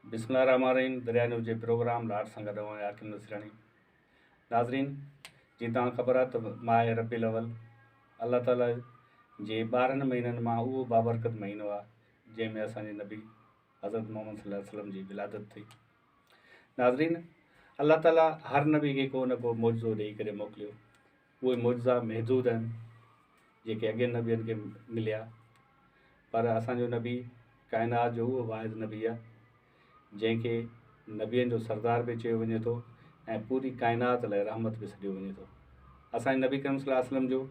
بسم الله الرحمن الرحيم دريا نيوز جي پروگرام لاٽ سان گڏ آهيان حاڪم نصراڻي ناظرين جي تان خبر آهي ته ماهه ربي الاول الله تعالي جي ٻارهن مهينن مان اهو بابرڪت مهينو آهي جنهن ۾ اسان جي نبي حضرت محمد صلي الله عليه وسلم جي ولادت ٿي ناظرين الله تعالي هر نبي کي ڪو نه ڪو معجزو ڏيئي ڪري موڪليو اهي معجزا محدود آهن جيڪي اڳين نبين کي مليا پر اسان جو نبي ڪائنات جو اهو واحد نبي آهي جنهن کي نبين جو سردار به چيو وڃي ٿو ۽ پوري ڪائنات لاء رحمت به سڏيو وڃي ٿو اسان جي نبي ڪريم صلي الله عليه وسلم جو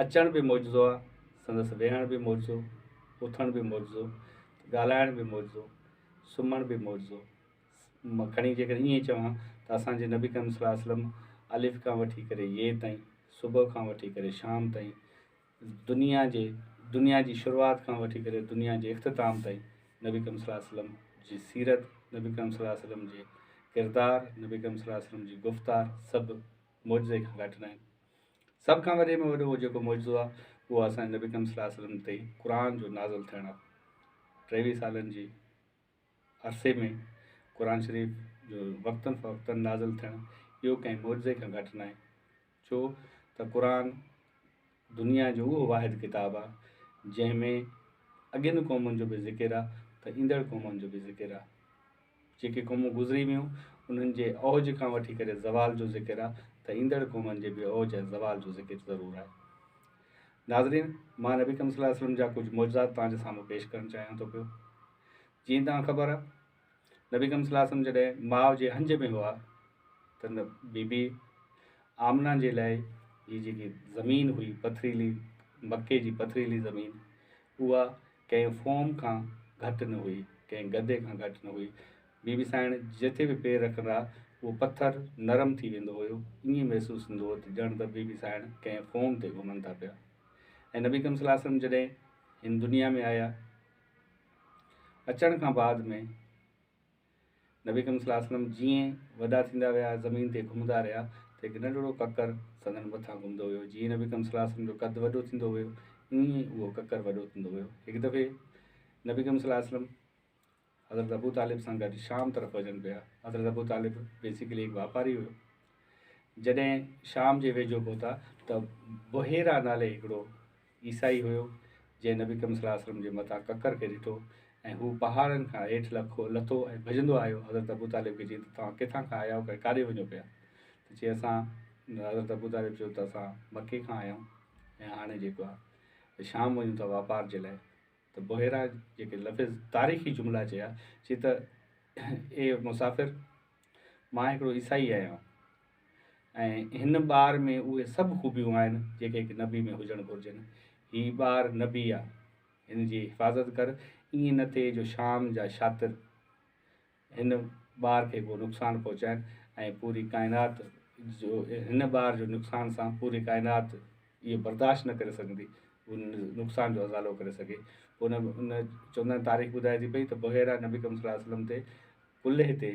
اچڻ به معجزو آهي سندس ويهڻ به معجزو اٿڻ به معجزو ڳالهائڻ به معجزو سمهڻ به معجزو مان کڻي جيڪڏهن ائين چوان ته اسان جي نبي ڪريم صلي الله عليه وسلم الف کان وٺي ڪري يي تائين، صبح کان وٺي ڪري شام تائين، دنيا جي دنيا جي شروعات کان وٺي ڪري دنيا جي اختتام تائين نبي ڪريم صلي الله عليه وسلم جي سيرت، نبي ڪريم صلي الله عليه وسلم جي ڪردار، نبي ڪريم صلي الله عليه وسلم جي گفتار سڀ معجزي کان گهٽ ناهن. سڀ کان وڏي ۾ وڏو جيڪو معجزو آهي اهو اسان جي نبي ڪريم صلي الله عليه وسلم تي قرآن جو نازل ٿيڻ آهي. ٽيويهه سالن جي عرصي ۾ قرآن شريف جو وقتن فوقتن نازل ٿيڻ اهو ڪنهن معجزي کان گهٽ ناهي ڇو ته قرآن دنيا جو اهو واحد ڪتاب آهي جنهن ۾ اڳين قومن جو به ذڪر آهي ته ايندڙ قومن جو به ذڪر آهي جيڪي قومون گذري ويون انهن جي اوج کان وٺي ڪري زوال جو ذڪر آهي ته ايندڙ قومن جي به اوج ۽ زوال جو ذڪر ضرور آهي ناظرين مان نبي ڪم صلي الله عليه وسلم جا ڪجهه معجزات توهان جي سامهون پيش ڪرڻ چاهيان ٿو پيو جيئن توهان کي خبر آ نبي اڪرم صلي الله عليه وسلم جڏهن ماء جي هنج ۾ هئا ته بي بي آمنه جي لاء هي جيڪي زمين هئي پٿريلي مڪي جي پٿريلي زمين اها ڪنهن فوم کان گهٽ نه هئي ڪنهن گدي کان گهٽ نه هئي بي بي سائڻ جتي به پير رکندا اهو پٿر نرم ٿي ويندو هيو ائين محسوس ٿيندو هو ته ڄڻ ته بي بي سائڻ ڪنهن فوم تي گهمن ٿا پيا ۽ نبي اڪرم صلي الله عليه وسلم جڏهن هن دنيا ۾ آيا اچڻ کان بعد ۾ نبي ڪريم صلي الله عليه وسلم جيئن وڏا ٿيندا ويا زمين تي گهمندا رهيا ته هڪ ننڍڙو ڪڪر سندن مٿان گهمندو ويو جيئن نبي ڪريم صلي الله عليه وسلم جو قد وڏو ٿيندو ويو ائين ئي اهو ڪڪر وڏو ٿيندو ويو هڪ دفعي نبي ڪريم صلي الله عليه وسلم حضرت ابو طالب سان گڏ شام طرف وجن پيا حضرت ابو طالب بيسيڪلي هڪ واپاري هو جڏهن شام جي ويجهو پهتا ته بحيرا نالي هڪڙو عيسائي هيو، جنهن نبي ڪريم صلي الله عليه وسلم جي متان ڪڪر کي ڏٺو ۽ هو پهاڙن کان هيٺ لکو لٿو ۽ ڀڄندو آيو حضرت ابو طالب کي چيائين ته توهان ڪٿان کان آيا آهيو ۽ ڪاڏي وڃو پيا ته چي اسان حضرت ابو طالب چيو ته اسان مڪي کان آيا آهيون ۽ هاڻي جيڪو آهي ته شام وڃون ٿا واپار جي لاء ته بحيرا جيڪي لفظ تاريخي جملا چيا چي ته اي مسافر مان هڪڙو عيسائي آهيان ۽ هن ٻار ۾ اهي سڀ خوبيون آهن جيڪي هڪ نبي ۾ هجڻ گهرجن. هي ٻار نبي آ. هن جي حفاظت ڪر. ائين نه ٿئي جو شام جا شاطر هن ٻار کي ڪو نقصان پهچائن ۽ پوري ڪائنات جو هن ٻار جو نقصان سان پوري ڪائنات اهو برداشت نه ڪري سگهندي ان نقصان جو ازالو ڪري سگهي. پوء ان چوندن تاريخ ٻڌائي ٿي پئي ته بحيره نبي اڪرم صلي الله عليه وسلم تي ڪلهي تي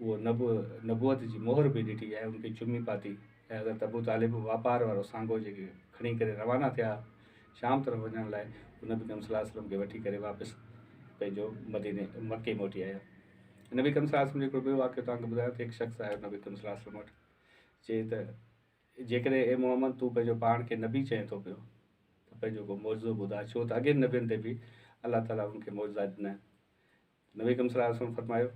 اهو نب نبوت جي مهر به ڏٺي ۽ ان کي چمي پاتي ۽ حضرت ابو طالب واپار وارو سانگو جيڪي کڻي ڪري روانا ٿيا شام طرف وڃڻ لاء هو نبي ڪريم صلي الله عليه وسلم کي وٺي ڪري واپس پنهنجو مديني مڪي موٽي آيا نبي ڪريم صلي الله عليه وسلم جو هڪڙو ٻيو واقعو توهان کي ٻڌايان ته هڪ شخص آيو نبي ڪريم صلي الله عليه وسلم وٽ چي ته جيڪڏهن اي محمد تون پنهنجو پاڻ کي نبي چئين ٿو پيو ته پنهنجو ڪو معجزو ٻڌا ڇو ته اڳين نبين تي به الله تعاليٰ ان کي معجزا ڏنا آهن نبي اڪرم صلي الله عليه وسلم فرمايو،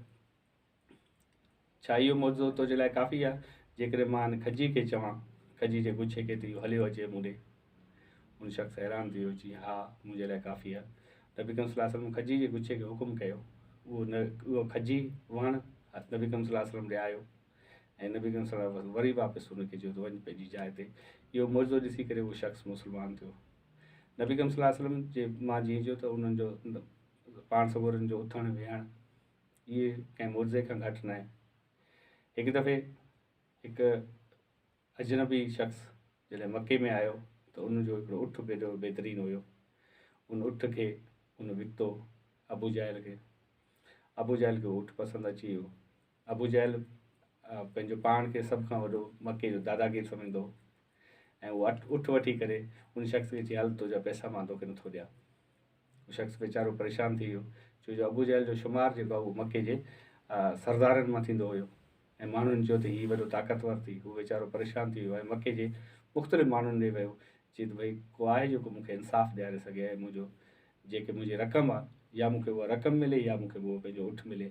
ڇا اهو معجزو تنهنجي لاء ڪافي آهي، جيڪڏهن مان هن کجي کي چوان، کجي جي گڇي کي ته اهو هليو اچي مون ڏي؟ هن شخص حيران ٿي ويو، چيائين، ها، منهنجي لاء ڪافي آهي. نبي اڪرم صلي الله عليه وسلم کجي جي گڇي کي حڪم ڪيو، اهو کجي، وڻ، هٿ نبي اڪرم صلي الله عليه وسلم ڏي آيو ۽ نبي اڪرم صلي الله عليه وسلم وري واپس هن کي چيو ته وڃ پنهنجي جاء تي. اهو معجزو ڏسي ڪري اهو شخص مسلمان ٿيو. نبي اڪرم صلي الله عليه وسلم جي مان جيئن چيو ته انهن جو پاڻ سڳورن جو اٿڻ ويهڻ اهي ڪنهن معجزي کان گهٽ نه آهن هڪ دفعي هڪ اجنبي شخص جڏهن مڪي ۾ آيو ته ان جو هڪڙو اٺ بيدو بهترين هيو ان اٺ کي ان وڪتو ابو جهل کي ابو جهل کي اٺ پسند اچي ويو ابو جهل پنهنجو پاڻ کي سڀ کان وڏو مڪي جو داداگير سمجهندو هو ۽ هو اٺ اٺ وٺي ڪري ان شخص کي چي هل تنهنجا پئسا مان توکي نٿو ڏيان هو شخص ويچارو پريشان ٿي ويو ڇو جو ابو جهل جو شمار جيڪو هو مڪي جي سردارن مان ٿيندو هيو ۽ ماڻهن چيو ته هي وڏو طاقتور ٿي هو ويچارو پريشان ٿي ويو ۽ مڪي جي مختلف ماڻهن ڏي ويو چي ته ڀئي ڪو آهي جيڪو مون کي انصاف ڏياري سگهي ۽ منهنجو جيڪي منهنجي رقم آهي يا مون کي اها رقم ملي يا مون کي اهو پنهنجو اٺ ملي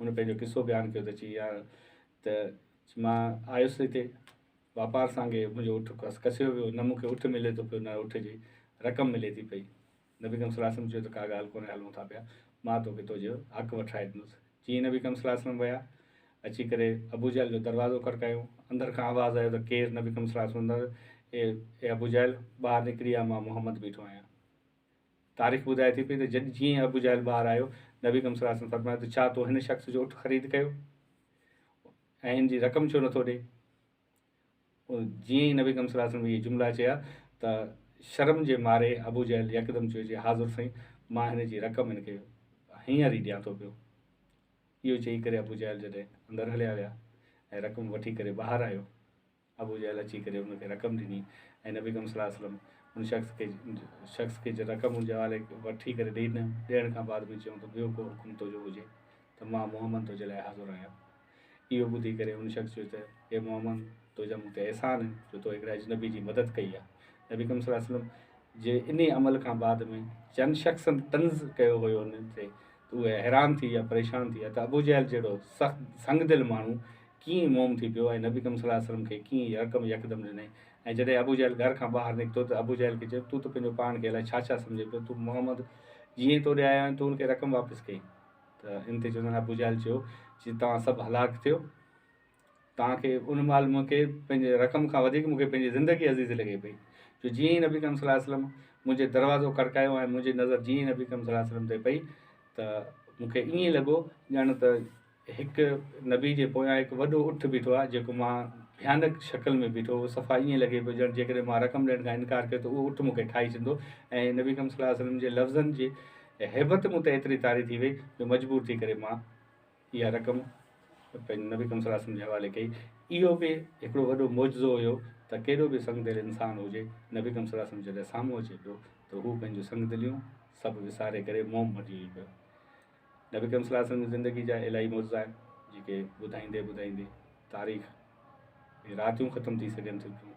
هن پنهنجو قصو بيان ڪيو ته چي ها ته مان آيس هتي واپار سانگي منهنجو اٺ کس کسيو ويو نه مونکي اٺ ملي ٿو پيو نه اٺ جي رقم ملي ٿي پئي نبي ڪم صلي وسلم چيو ته ڪا ڳالهه ڪونهي هلون ٿا پيا مان توکي تو جو حق وٺرائي ڏنس جيئن نبي ڪم صلي وسلم ويا اچي ڪري ابو جهل جو دروازو کڙڪايو اندر کان آواز آيو ته ڪير نبي ڪم صلي وسلم اي ابو جهل ٻاهر نڪري آ مان محمد بيٺو آهيان تاريخ ٻڌائي ٿي پئي ته جڏ جيئن ابو جهل ٻاهر آيو، نبي اڪرم صلي الله عليه وسلم فرمايو ته ڇا تو هن شخص جو اٺ خريد ڪيو ۽ ان جي رقم ڇو نٿو ڏئي؟ جيئن ئي نبي اڪرم صلي الله عليه وسلم اهي جملا چيا ته شرم جي ماري ابو جهل يڪدم چيو جي حاضر سائين مان هن جي رقم هن کي هينئر ئي ڏيان ٿو پيو. اهو چئي ڪري ابو جهل جڏهن اندر هليا ويا ۽ رقم وٺي ڪري ٻاهر آيو. ابو جهل اچي ڪري ان کي رقم ڏني ۽ نبي اڪرم صلي الله عليه وسلم ان شخص کي شخص کي جي رقم ان جي حوالي وٺي ڪري ڏئي ڏنم ڏيڻ کان بعد ۾ چيائون ته ٻيو ڪو حڪم تنهنجو هجي ته مان محمد تنهنجي لاء حاضر آهيان اهو ٻڌي ڪري ان شخص چيو ته اي محمد تنهنجا مون تي احسان آهن جو تو هڪڙي اجنبي جي مدد ڪئي آهي نبي اڪرم صلي الله عليه وسلم جي انهي عمل کان بعد ۾ چند شخصن طنز ڪيو هيو ان تي اهي حيران ٿي يا پريشان ٿي يا ته ابو جهل جهڙو سخت سنگ دل ماڻهو ڪيئن موم ٿي پيو ۽ نبي اڪرم صلي الله عليه وسلم کي ڪيئن هي حڪم يڪدم ڏنئي ۽ جڏهن ابو جهل گهر کان ٻاهر نڪتو ته ابو جهل کي چيو تون ته پنهنجو پاڻ کي الائي ڇا ڇا سمجهين پيو تون محمد جيئن تو ڏي آيو آهين تون ان کي رقم واپس ڪئين ته ان تي چوندڙ ابو جهل چيو جي توهان سڀ هلاڪ ٿيو توهان کي ان مال مون کي پنهنجي رقم کان وڌيڪ مون کي پنهنجي زندگي عزيز لڳي پئي جو جيئن ئي نبي ڪريم صلي الله عليه وسلم منهنجي دروازو کڙڪايو ۽ منهنجي نظر جيئن ئي نبي ڪريم صلي الله عليه وسلم تي پئي ته مون کي ائين لڳو ڄڻ ته هڪ نبي جي پويان هڪ وڏو اٺ بيٺو آهي جيڪو مان ڀيانڪ شڪل ۾ بيٺو هو صفا ائين لڳي پيو ڄڻ جيڪڏهن مان رقم ڏيڻ کان انڪار ڪيو ته اهو اٺ مون کي ٺاهي ڇڏندو ۽ نبي ڪريم صلي الله عليه وسلم جي لفظن جي هيبت مون تي ايتري طاري ٿي وئي جو مجبور ٿي ڪري مان اها رقم پنهنجي نبي اڪرم صلي الله عليه وسلم جي حوالي ڪئي. اهو به هڪڙو وڏو معجزو هيو ته ڪيڏو به سنگ دل انسان هجي، نبي اڪرم صلي الله عليه وسلم جڏهن سامهون اچي پيو ته هو پنهنجون سنگ دليون سڀ وساري ڪري موم بڻجي ويهي پيو. نبي اڪرم صلي الله عليه وسلم جي زندگي جا الاهي معجزا آهن جيڪي ٻڌائيندي ٻڌائيندي تاريخ ۾ راتيون ختم ٿي سگهن ٿيون پيون.